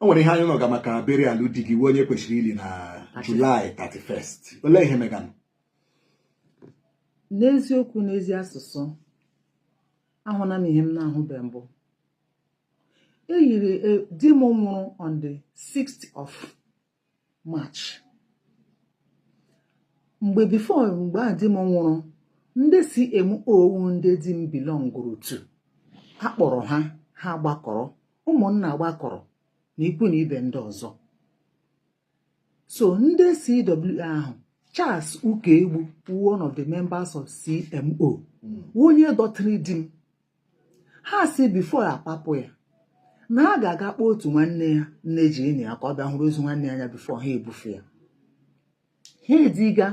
o nwere ihe anyị nọga maka burial di gị onye kwesịrị ili na July 31st olee ihe meganụ n'eziokwu n'ezi asụsụ ahụna m ihe m na-ahụbe mbụ eyiri eh, di m nwụrụ on the 6th of March mgbe before mgbe a di m nwụrụ ndị CMO wụ ndị di m belongụrụ to akpọrọ ha ha gbakọrọ ụmụnna gbakọrọ na ikwu na ibe ndị ọzọ so ndị CWO ahụ Charles Ukaegbu one of the members of CMO hmm. onye dọtịrị di m ha si before a papụ ya na a ga-aga kpọọ otu nwanne ya nne ji enyi ya ka ọ bịa hụrụ ozu nwanne ya anya before ha ebufe ya ha eziga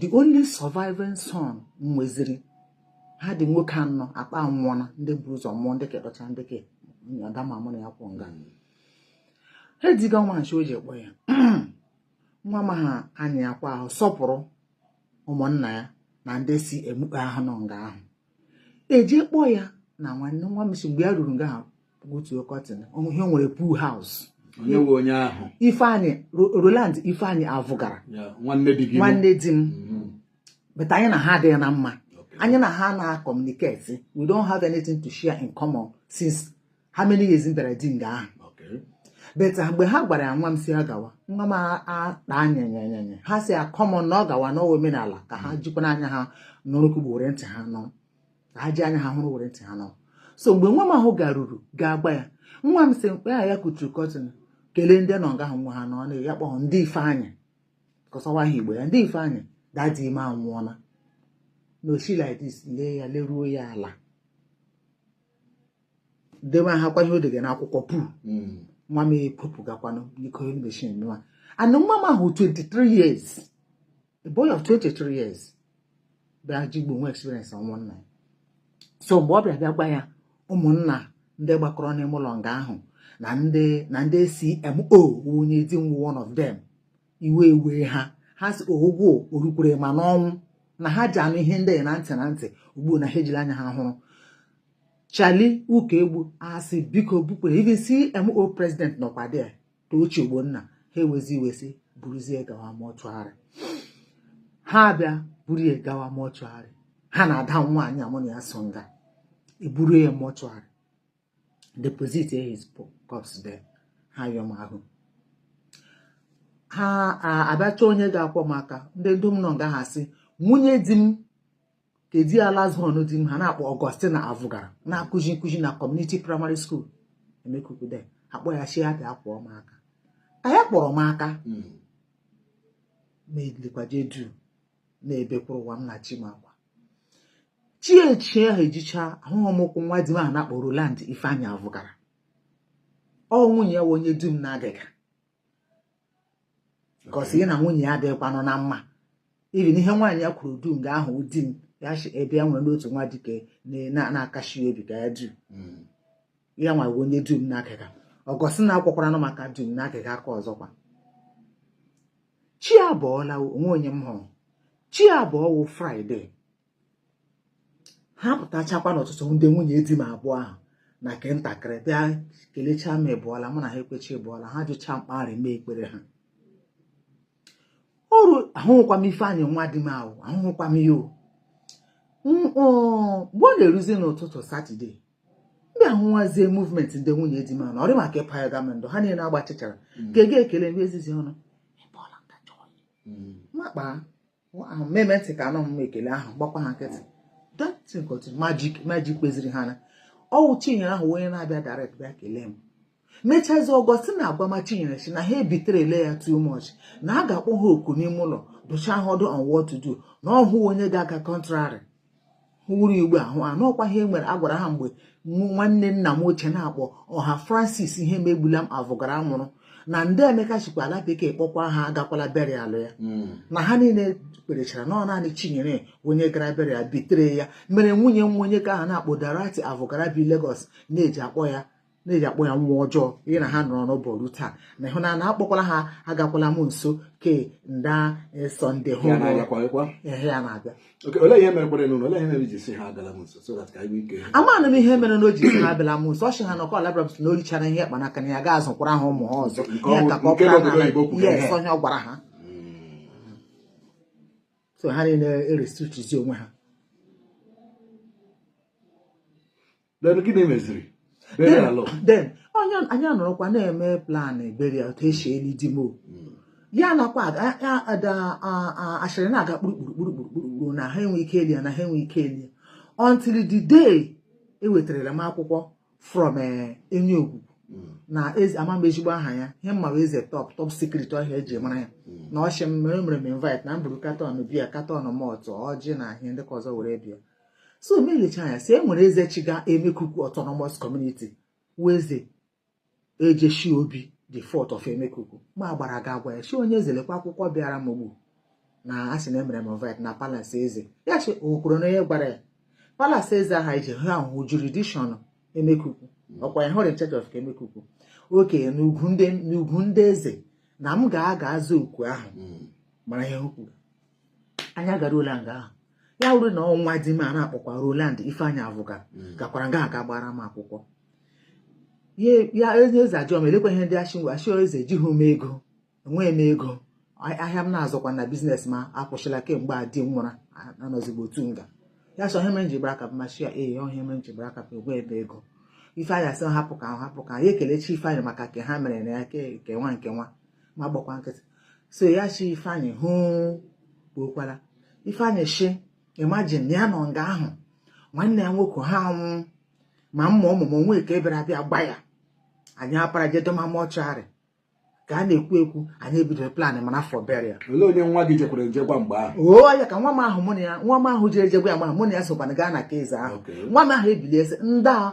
the only surviving son nweziri ha dị nwoke anọ akpa nwụọna ndị buru ụzọ mụọ ndị kedọcha ndị ke ada m a mụ na ya kwụ nga ha eziga nwa m si o je kpọọ ya nwa m ahụ anya akwa ahụ sọpụrụ ụmụnna ya na ndị CMO ahụ nọ nga ahụ eje kpọọ ya na nwanne nwa m si mgbe ya ruru nga ahụ gbutuo curtain ihe nwere pool house Ifeanyị Roland Ifeanyị Avụgara nwanne di m mm-hmm. but anyị na ha adịghị na mma anyị na ha na-acommunicate we don't have anything to share in common since how many years m bịara di nga ahụ but ah, mgbe ha gwara ya nwa m si ya gawa nwa m akpa anyanyanyanya ha si come on na ọ gawa na ọ wụ omenala ka ha jikwa n'anya ha nụrụ ka were ntị ha nụ ka ha ji anya ha hụrụ were ntị ha nụ so mgbe nwa m ahụ garuru ga-agwa ya nwa m si mgbe ya kuturu curtain kelee ndị nọ nga ahụ nwa ha nọ na ya kpọọ Dee Ifeanyị cos ọ wụ aha Igbo ya Dee Ifeanyị daddy m anwụọla na o shi like this lee ya leruo ya ala dewe ha kwa ihe o degara n'akwụkwọ pool nwa m ekwepụgakwanụ biko emeshin nwa and nwa m ahụ 23 years a boy of 23 years bịa ji igbo nwe experience ọnwụ nna ya so mgbe ọ bịa bịa gwa ya ụmụnna ndị gbakọrọ n'ime ụlọ nga ahụ na ndị na ndị CMO wụ onye di m wụ one of them iwe ewe ha ha si ọgụ o rukwere ma n'ọnwụ na ha ji anụ ihe ndị na ntị na ntị ugbu na ha ejila anya ha hụrụ Charlie Ukaegbu asị biko bupụrụ even CMO president nọkwa there Tochi Ogbonna ha ewezi iwe sị buruzie gawa mortuary ha abịa buru ya gawa mortuary ha na ada nwaanyị a mụ na ya so nga eburu ya mortuary deposit his corpse there ha yọm ahụ ha abịa chọọ onye ga-akwọ maka ndị dum nọ nga ha sị nwunye di m ke dị last born di m ha na-akpọ Augustine Avugara na-akụzi nkụzi na community primary school Emekuku there akpọ ya chi abịa akwọ m aka ka ya kwọrọ m aka ma edikwaje dụ na-ebekwuru ụwa m na chi m akwa chi echi ahụ ejicha ahụhụ m ụkwụ nwa di m ahụ na-akpọ Roland Ifeanyi Avugara ọ nwunye ya onye dụ m n'agịga because ya na nwunye ya adịghịkwanụ na mma even ihe nwaanyị ya kwuru dum nga ahụ di m ya si ebe ya nwere n'otu nwa dike na-akashi obi ka ya dụ hmm. ya nwa bụ onye dụ m n'agịga Augustine akwọkwaranụ m aka dụ m n'agịga aka ọzọkwa chi abụọla o nwe onye m hụrụ chi abụọ wụ Friday ha pụtachakwa n'ụtụtụ ndị nwunye di m abụọ ahụ na nke ntakịrị bịa kelechaa m ị bọọla mụ na ha ekwecha ị bọọla ha jụcha mkparị mee ekpere ha ọrụ ahụhụkwa m Ifeanyị nwa di m ahụ ahụhụkwa m ya mgbe ọ na-eruzi n'ụtụtụ Saturday ndị ahụwazie movement ndị nwunye di m ahụ na ọ rị m ka ịpa ya gama ndụ ha niile agbachichara mm. ga-ege ekele ndị ezizi ọnụ mm. m akpaa mmemme ntị ka anọ m ekele ahụ gbakwa ha nkịtị magic kpeziri ha na ọ wụ Chinyere ahụ onye na-abịa direct bịa kelee m mechazi Augustine agwama Chinyere sị na ha ebitere ele ya too much na a ga-akpọ ha oku n'ime ụlọ dụchaa ha ọdụ on what to do na ọ rịhụ onye ga-aga contrary hụrụ igbe ahụ na ọ kwa ihe nwere agwara ha mgbe nwanne nna m ochie na-akpọ Ọha Francis Ihemegbulam Avugara nwụrụ na nda Emeka shikwa ala bekee kpọkwa ha agakwala burial ya hmm. na ha niile kperechara na ọ naanị Chinyere onye gara burial bitere ya mere nwunye m onye ke a ha na-akpọ Dorothy Avugara bi Lagos na-eji akpọ ya na-eji akpọ ya nwa ọjọọ ya na ha nọrọ n'ụbọ ruo taa na ịhụ na akpọkwala ha agakwala m nso ke nda Sunday hụ ya na-abịa amaghị m ihe mere na o ji sị ha abịala m nso ọ sị ha na ọkọ labrabs na o richara ihe kpa n'aka na ya gaa azụkwara ha ụmụ ha ọzọ ihe ka ka ọ pụta na ya esi onye ọ gwara ha so ha niile erestrictizi onwe ha then gịnị meziri then onye anyị anọrọkwa na-eme plan burial otu e si eli di m hmm. ya nakwa ashịrị na-aga kpurukpurukpurukpurukpuru na ha enwe ike eli ya na ha enwe ike eli ya until the day ewetarala m akwụkwọ from eh, Enyiogugu hmm. na ama m ezigbo aha ya ihe m ma Eze Top Secret ọ ihe e ji mara ya hmm. na ọchị m mere mere m invite na m buru carton beer carton malt ọjị na ihe ndị ke ọzọ were bịa so m elecha anya si e nwere eze chịga emekuku autonomous community wụ eze ejeshi obi the fourth of emekuku m agbara gaa gwa ya si onye eze lekwa akwụkwọ bịara m ogbu na a sị na emere m invite na palace eze ya shi o kwuru na onye gwara ya palace eze aha ije ha ahụ jurisdiction emekuku ọkwa ya wụrụ in charge of emekuku oke n'ugwu ndị eze na m ga-aga aza oku ahụ hmm. mara ihe okwu anyị agaruola nga ahụ ya wụrụ na ọ nwa di m a na-akpọkwa Roland Ifeanyi Avuka hmm. gakwara nga aga gbara m akwụkwọ ya onye eze ajụọ m elekwa ihe ndị achịngwa achịọ eze ejighị m ego enweghị m ego ahịa m na-azụkwa na business m akwụsịla kemgbe a di m nwụra anọzigbo otu nga ya sị ọ ihe mere m ji gbara aka m ashị ya ee eh, ọ ihe mere m ji gbara aka m enweghị m ego Ifeanyi asị hapụ ka hapụ ka ya ekelechi Ifeanyi maka nke ha mere na ya ke nwa nke nwa m agbakwa nkịtị so ya shi ifeanyị ahụ kpọkwara ifeanyị shi imagine ya nọ nga ahụ nwanne ya nwoke ha anwụ ma mma ọmụmụ nwa ike bịara abịa gba ya anyị apara je doma mortuary ka a na-ekwu ekwu anyị ebidoro plan mana for burial olee onye nwa gị jekwara nje gwa mgbe ahụ ọ ya ka nwa m ahụ mụ na ya nwa m ahụ jere je gwa ya ma mụ na ya sokwana gaa na nke eze ahụ nwa m ahụ ebilie sị ndị a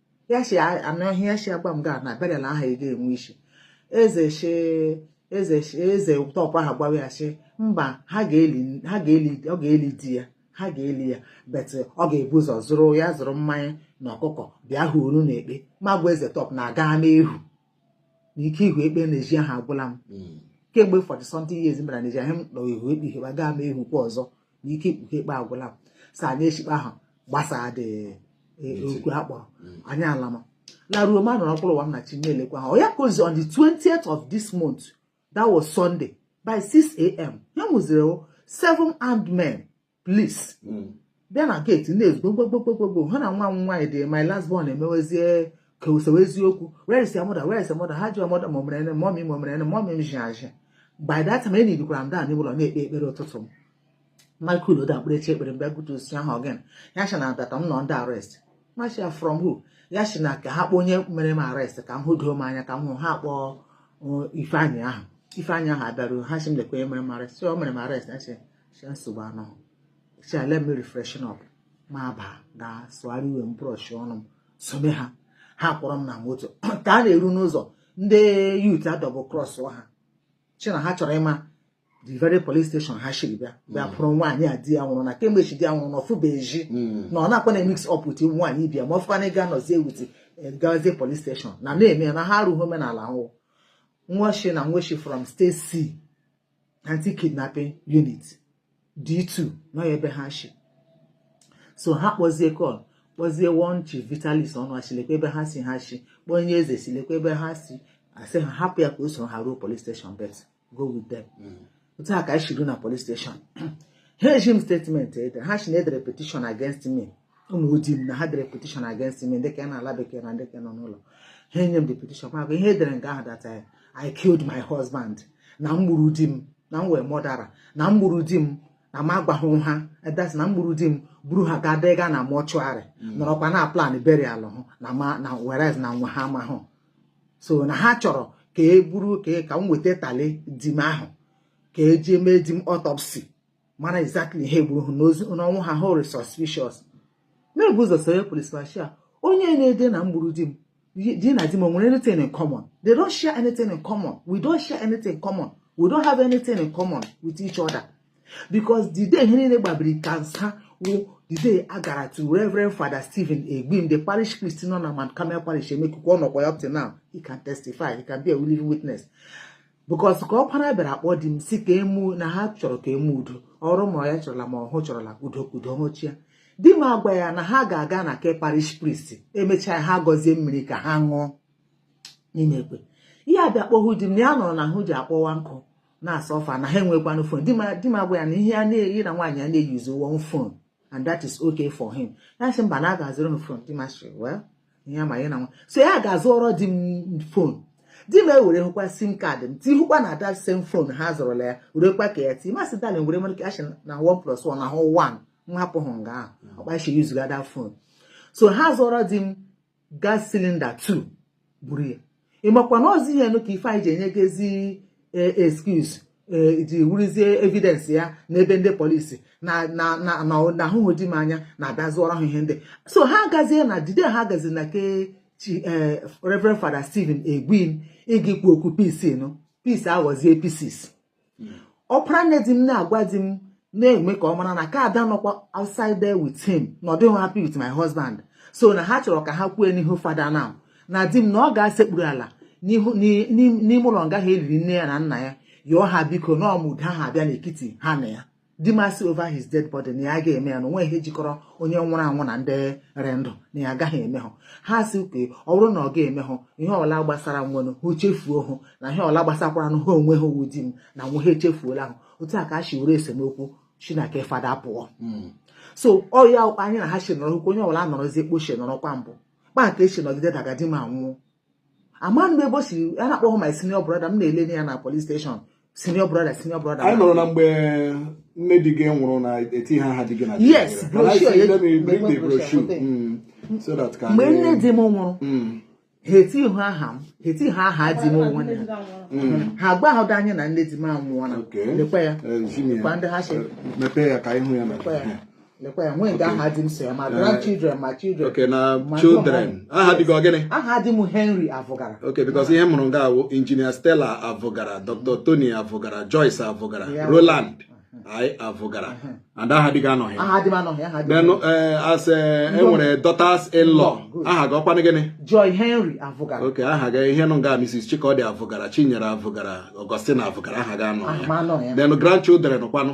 ya si anụ ihe ya si agwa m gaa na burial ahụ ị ga-enwe isi eze shi eze shi eze tọpụ aha gwawa ya si mba ha ga-eli ha ga-eli ọ ga-eli di ya ha ga-eli ya but ọ ga-ebu ụzọ zụrụ ya zụrụ mmanya na ọkụkọ bịa hụ unu n'ekpe m agwa eze tọpụ na-aga n'ehu na ike ihu ekpe n'ezi ahụ agwụla m hmm. kemgbe forty something years m bara n'ezi ahụ m nọ ihu ekpe ihe gaa m ehukwa ọzọ na ike ikpughe ekpe agwụla m so anyị eshi ekpe ahụ gbasaa dị e, okwu a kpọrọ hmm. anyị alama laruo m anọrọ mkpụrụ ụwa m na chi na-elekwa ha ọ ya ka ozi on the 20th of this month that was Sunday by 6 a.m. ya wụziri seven armed men police hmm. bịa na gate na-ezugbo gbogbogbogbogbogbo ha na nwa m nwaanyị dị my last born emewezie ka esewezie okwu where is your mother where is your mother ha ji your mother mọmere ene mọmi mọmere ene mọmi m ji aji by that time enyi dikwara m down ụlọ na-ekpe ekpere ụtụtụ m Michael Oda mkpụrụchi ekpere m bịa gate sị ha ọ gịnị ya sị na that m nọ under arrest m ashị ya from who ya sị na ka ha kpọọ onye mere m arrest ka m hụdoo m anya ka m hụ ha kpọọ uh, ifeanyị ahụ ifeanyị ahụ abịaruo ha sị m lekwa onye mere m arrest o mere m arrest si nsogbu anọ si allow m refreshen up m abaa gaa sụgharị uwe m brush ọnụ m sobe ha ha kpọrọ m na moto ka a na-eru n'ụzọ ndị youth a-double cross ha shi na ha chọrọ ịma the very police station ha shiri bịa bịa hmm. kpụrụ nwaanyị a di ya nwụrụ na kemgbe shi di ya nwụrụ na ọ fụba ezi hmm. na ọ na-akwa na mix up with nwaanyị ibe ya ma ọ fụkwa na ịga nọzie with eh, gazie police station na na-eme na ha arụghị omenala ahụ nwa shi na nwa shi from state c anti-kidnapping unit D2 nọ ebe ha shi so ha kpọzie call kpọzie one chief Vitalis Onu a shị lekwa ebe ha si ha shi kpọọ onye eze sị lekwa ebe ha si asị ha hapụ ya ka o soro ha ruo police station but go with them mm. otu a ka anyị shi ruo na police station ha eji m statement ede ha shi na e dere petition against me ụmụ di m na ha dere petition against me ndị ka nọ n'ala bekee na ndị ka nọ n'ụlọ ha enye m the petition ma ihe e dere nga ahụ that eh, I killed my husband na m gburu di m na m wụ murderer na m gburu di m na m agwaghị ha eh, that na m gburu di m buru ha gaa dega na mortuary mm. nọrọkwa na-aplan burial hụ na ma na whereas na nwa ha amahụ so na ha chọrọ ka e buru ka e, ka m weta tally di m ahụ ka e ji mee di m autopsy mara exactly ihe gburu ha n'ozu n'ọnwụ ha hụrụ suspicious m ebu ụzọ soro police m shị ha onye na-ede na m gburu di m di na di m nwere anything in common they don't share anything in common we don't share anything in common we don't have anything in common with each other because the day ihe niile gbabiri ka nsa wụ the day a gara to Reverend Father Stephen Egbim the parish priest nọ na Mount Carmel parish Emekuku ọ nọkwa ya up till now he can testify he can be a living witness because ka ọkpara bịara akpọ di m sị ka e mee udo na ha chọrọ ka e mee udo ọrụ ma ya chọrọla ma ọhụ chọrọla udo udo hụchia di m agwa ya na ha ga-aga na ke parish priest emechaa ha gọzie mmiri ka ha ṅụọ n'ime ekwe ya abịa kpọ hụ di m na ya nụrụ na ahụ ji akpọwa nkụ na-asuffer na ha enwe one phone di m agwa ya na ihe a na ya na nwaanyị ya na-eyuzu one phone and that is okay for him ya sị mba na a ga-azụrụ m phone di m asịrị well ihe ma ya na nwa so ya agaa zụọrọ di m phone di m ewere hụkwa SIM card m ti hụkwa na that same phone ha zụrụla ya werekwa ka ya ti m asị darling were nwere kaa shi na 1 plus 1 na wụ 1 m ahapụ hụ nga ahụ ọ kpa a shi yuzuga that phone so ha zụọrọ di m gas cylinder 2 buru ya ị makwa na ozi ihe nụ ka ife e ji enyegazi eh, excuse eh, ji wụrụzie evidence ya n'ebe ndị police na na na na na a hụ hụ di m anya na-abịa zụọrọ ha ihe ndị so ha agazie na the day ha gaziri na ke chi eh, Reverend Father Stephen Egbim ịga ikwu okwu peace nụ peace aghọzie pieces ọpara nne di m na-agwa di m na-eme ka ọ mara na ka ada nọkwa outside there with him na ọ dịghị happy with my husband so na ha chọrọ ka ha kwue n'ihu Father now na di m na ọ ga-asekpuru ala n'ime ụlọ nga hụ e liri nne ya na nna ya yọọ ha biko na ọmụda ha abịa n'ekiti ha na ya di m asị over his dead body na ya agaghị eme ya na o nweghị ihe jikọrọ onye nwụrụ anwụ na ndị rị ndụ na ya agaghị eme hụ ha sị okay ọ bụrụ na ọ gaghị eme hụ ihe ọla gbasara nwenụ ha chefuo hụ na ihe ọla gbasakwara nụ ha onwe ha ọ wụ di m na nwe ha echefuola ahụ otu a ka a si were esemokwu shi na ke Father pụọ hmm. so ọ ya anyị na ha si nọrọ okwu onye ọbụla nọrọzie kpa o shi nọrọkwa mbụ kpa nke e si nọgide daga di m anwụọ ama m ebe o si a na-akpọghị my senior brother m na-ele ya na police station senior brother senior brother anyị nụrụ na mgbe nne di gị nwụrụ na etihụ aha di gị na yes mgbe nne di m nwụrụ hmm. ha etihụ aha m ha etihụ aha di m onwe ya hmm. ha agwahụda anyị na nne di m anwụọla lekwa ya lekwa ndị ha si mepee ya ka anyị hụ ya na lekwa ya nwee nke aha di m so ya ma eh, grandchildren ma children okay na children aha di gị ọ gịnị aha di m henry avụgara okay because ihe m hụrụ nga wụ engineer stella avụgara dr tony avụgara joyce avụgara roland anyị avụgara and aha di gị anọghị aha di m anọghị aha di m eh, as eh, e nwere daughters in law aha gị ọkwanụ gịnị joy henry avụgara okay aha gị ihe nọ nga mrs chikọdị avụgara chinyere avụgara augustine avụgara aha gị anọghị then grandchildren kwanụ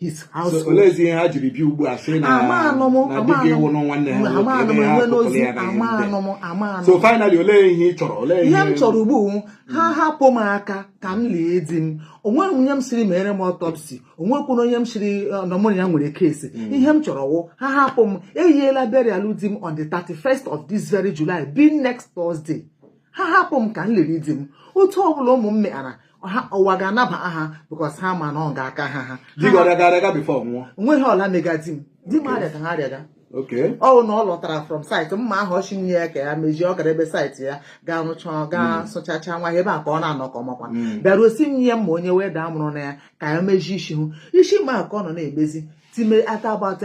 his household. Olezi ihe ha jiri bịa ugbu a sị na na di gị wụ nwanne ha nwoke ebe ha tụpụrụ ya na ihe so finally olee ihe ị chọrọ olee ihe m chọrọ ugbu ha hapụ m aka ka m lie di m onweghị onye m sịrị meere m autopsy onwekwuru onye m sịrị eh, na mụ na ya nwere case hmm. ihe m chọrọ wụ ha hapụ m eyiela burial di m on the 31st of this very July being next Thursday ha hapụ m ka m liri di m otu ọbụla ụmụ m meara ụwa ga-anaba ha because ha ma na ọ ga-aka ha ha onweghị ọla mega di m di m arịagahụ arịaga ọwụ na ọ lọtara from site mma ahụ ọ sị nye ya ka ya mejie ọ gara ebe site ya ga rụcha ga hmm. sụchacha nwa ya ebe a ka ọ na-anọ ka ọmakwa hmm. bịaruo sị nye ya mma onye welder mụrụ na ya ka ya mejie isi ahụ isi mma ka ọ nọ na-emezi time at about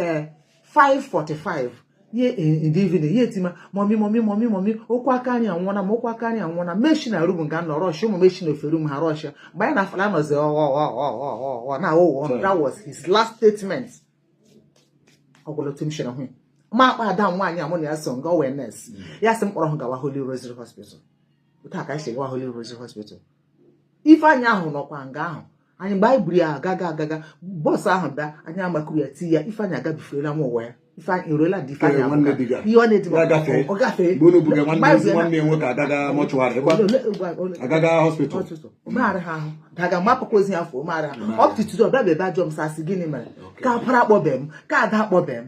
5:45 ye in the evening ya etima mommy mommy mommy mommy okwu aka anyị anwụọna m okwu aka anyị anwụọna m eshi na room ga nọ rush ụmụ m eshi na ofe room ha rush ya mgbe anyị na-afala ọ nọzi ọghọghọghọghọghọ na aghụghọ ọnụ that was his last statement ọ gwụla otu m shiri hụ ya m akpọọ ada m nwaanyị a mụ na ya so nga wụ nurse ya sị m kpọrọ hụ gawa Holy Rosary Hospital otu a ka anyị si gawa Holy Rosary Hospital Ifeanyị ahụ nọkwa nga ahụ anyị mgbe anyị buru ya agaga agaga bus ahụ bịa anyị amakuru ya tie ya ifeanyị agabiferela nwa ụwa ya ifeanyị eruola dị ifeanyị ihe ọ na-edi ọ gafee agaga hospital maara ha ahụ daga mapụkwa ozi ya fụ maara ha ọpụtụtụ ọ bịa bebe ajụ m sị a sị gịnị mere ka ọpara akpọbe m ka ada akpọbe m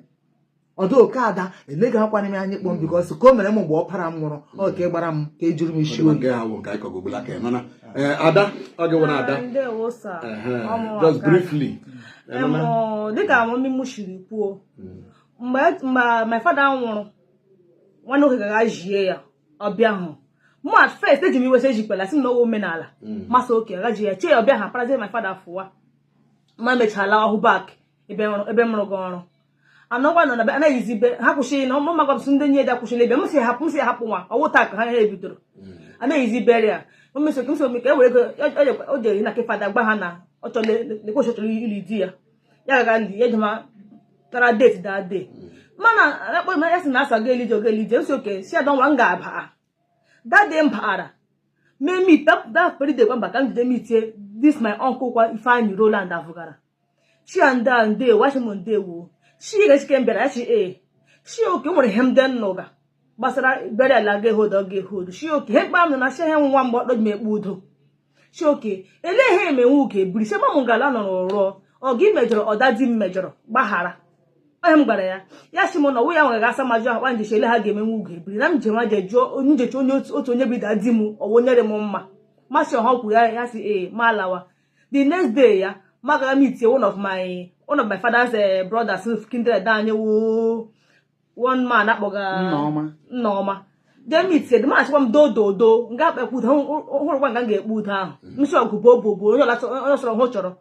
ọ dị ka ada eleghị akwa n'ime anyị kpọm because ka o mere m mgbe ọpara m nwụrụ ọ ka ị gbara m ka ejuru m isi oge ada ọ gịwara ada just briefly dịka mummy m siri kwuo hmm. mgbe my father nwụrụ nwanne nwoke gara jie ya ọ bịahụ mụ at first eji m iwe a sị ejikwala sị m na ọ wụ omenala hmm. m asị okay gaa jie ya chee ya ọ bịahụ aparazie my father fụwa m emecha lahụ back ebe m rụga ọrụ anọkwa nọ na be anaghịzi be ha kwụsịrị na ọmụma gwabsị ndị nye da kwụsịrị ebe m si hapụ m si hapụ nwa ọwụ taa ka ha ha ebidoro anaghịzi bere ya omesoke m somi ka e were ego o jere na ke father gwa ha na ọ chọrọ lekwe ọ chọrọ ili di ya ya gaga ndị ya jema tara date that day mana akpọ ma ya sị na asa ga elije oga elije m sị okay si ada nwa m ga-abịa that day m baara mee meet that very day kwa mba ka m jide meetie this my uncle kwa Ifeanyi Roland Avụgara shị a nda ndewo a shị m ndewo shị ga-echike m bịara achị ee shị okay nwere ihe m dị n'ụga gbasara bere ala ga ehodo ga ehodo shị okay ihe mkpa m na achị ihe nwa mgbe ọkpọ ji m ekpe udo shị okay elee ihe emenwe uke biri sị mamụ ngala nọ n'ụrọ ọ gị mejọrọ ọ daddy m mejọrọ gbaghara onye m gwara ya ya sị m na ọwụ ya nwere ga asa majụ akpa njechi ele ha ga-emenwe ugo ebiri na m jewa jee jụọ njechi onye otu onye bụ daddy m ọwụ nyere m mma masị ọha kwuru ya ya sị ee m alawa the next day ya m agara meet one of my one of my father's eh, brothers kindred anyị wụ one man akpọga nneọma jee meet the man chịkwa m do do do nga a ga-ekpe udo hụrụkwa nga m ga-ekpe udo ahụ mm. m sị ọgụ bụ obo bụ onye ọsọrọ hụ chọrọ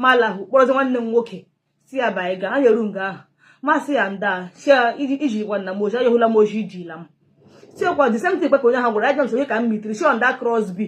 ma lahụ kpọrọzi nwanne m nwoke sị ya bịa anyị gaa anyị eru nga ahụ m asị ya nda si ya iji gwa nna m oji ayọhụla m oji ijila m sị ọkwa the same thing kwe ka onye ahụ gwara ajọ nsogbu ka m meetiri sị ọ nda crosby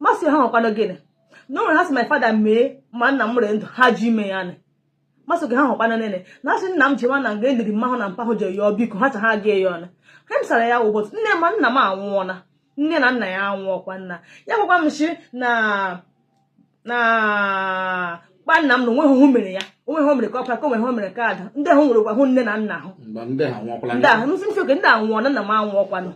m asị ha ọwụkwanụ gịnị na o nwere ha sị my father mee ma nna m ree ndụ ha ji ime ya nị masị gị ha nwekwanụ nene na asị nna m jewa na nga e liri mma hụ na mpa hụ jee yọọ biko ha cha ha ga ya ọnụ ha m sara ya ụbọchị nne ma nna m anwụọla nne na nna ya anwụọkwa nna ya gwakwa m sị na na kpa nna m na onweghị hụ mere ya onwe ha mere ka ọkwa ka onwe ha mere ka ada ndị ahụ nwerekwa hụ nne na nna ahụ ndị ahụ ndị ahụ ndị anwụọna nna m anwụọkwanụ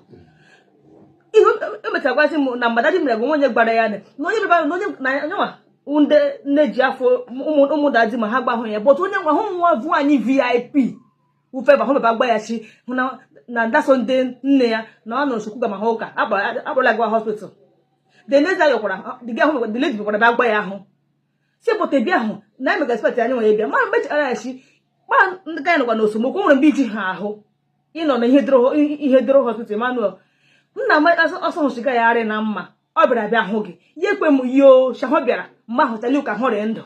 ihe emechagwazi m na mmadụ mere bụ onye gbara ya na onye bịara na onye na nyanwa ndị nne ji afọ ụmụ daddy m ha gbahụ ya bụtụ onye nwa hụ nwa vu anyị vip ufeba hụ baba gba ya shị hụ na na ndaso ndị nne ya na ọ nụrụ chukwuga ma ha ụka akpọrọla gaa hospital the next day yọkwara dịga ahụ the lady bịakwara bịa gwa ya ahụ si pụta bịa ahụ na emega spet anyị nwere bịa ma mechara ya shị kpa ndị ka anyị nọkwa n'osomokwu nwere mgbe iji ha ahụ ịnọ na ihe doro hospital Emmanuel nna m ọsọ hụchiga ya arị na mma ọ bịara bịa hụ gị ya ekwe m yio shahụ bịara mgbe ahụ tali ka hụrị ndụ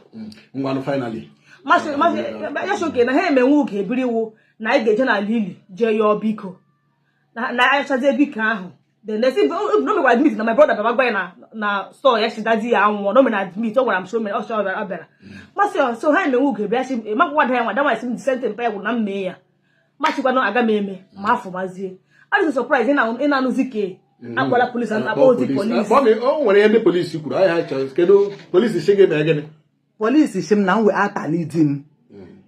ya sị okay na ha emenwe ugo ebiri iwu na anyị ga-eje n'ala ili jee yọọ biko na achazie biko ahụ the next day no me go admit na my brother baba gwa na na store ya shị daddy ya anwụ no me na admit ọ gwara m so me ọ sọ ọ bịara m asị so ha emewu ugo bịa si makwa da ya nwa dawa esi m disente mpa ya gwụ na mme ya ma shikwa na aga m eme ma afọ mazie adịghị surprise ịna-anụzi ka mm. akwala police akpa ozi police o nwere ihe ndị police kwuru ihe ha chọrọ kedu police si gị mee gịnị police shi m na m weta tally di m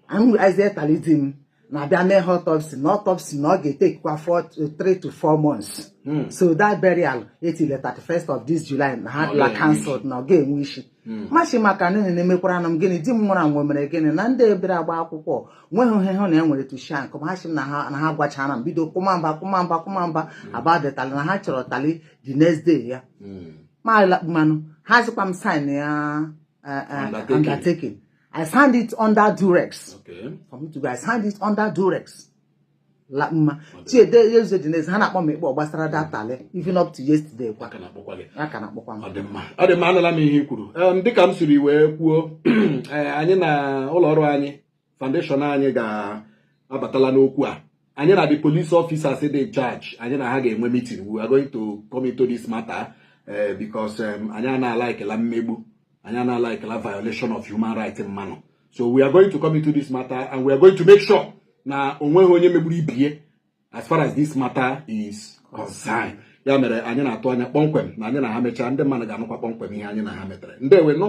anyị mm. weta tally di m na a bịa mee ya autopsy na autopsy na ọ ga-etekwa 3 to 4 months hmm. so that burial etile 31st of this July na ha abụla cancelled na ọ ga-enwe isi Hmm. ma shi maka n'ihi na emekwara na m gịnị di m nwụrụ anwụ mere gịnị na ndị ebere agba akwụkwọ nweghị ihe hụ na e nwere tushank ma ha shi m na ha gwachara m bido kụmamba kụmamba kụmamba hmm. about the tally na ha chọrọ tally the next day ya hmm. ma mmanụ ha zikwa m sign ya eh, eh, undertaking I signed it under duress. Okay. For me to be, I signed it under duress. la mma chiede eze dị n'eze ha na-akpọ m ikpe gbasara that tally even up to yesterday kwa a ka na-akpọkwa m ọ dị mma ọ dị mma anụla m ihe i kwuru Em, dịka m siri wee kwuo eh, anyị na ụlọ ọrụ anyị foundation anyị ga-abatala n'okwu a anyị na the police officers dị in charge anyị na ha ga-enwe meeting we are going to come into this matter eh, because em, anyị ana-alaikela mmegbu anyị ana-alaikela violation of human rights mmanụ so we are going to come into this matter and we are going to make sure na onweghị onye megburu ibie as far as this matter is concerned ya mere anyị na-atụ anya kpọmkwem na anyị na ha mechaa ndị mmadụ ga-anụkwa kpọmkwem ihe anyị na ha metere ndewo nụ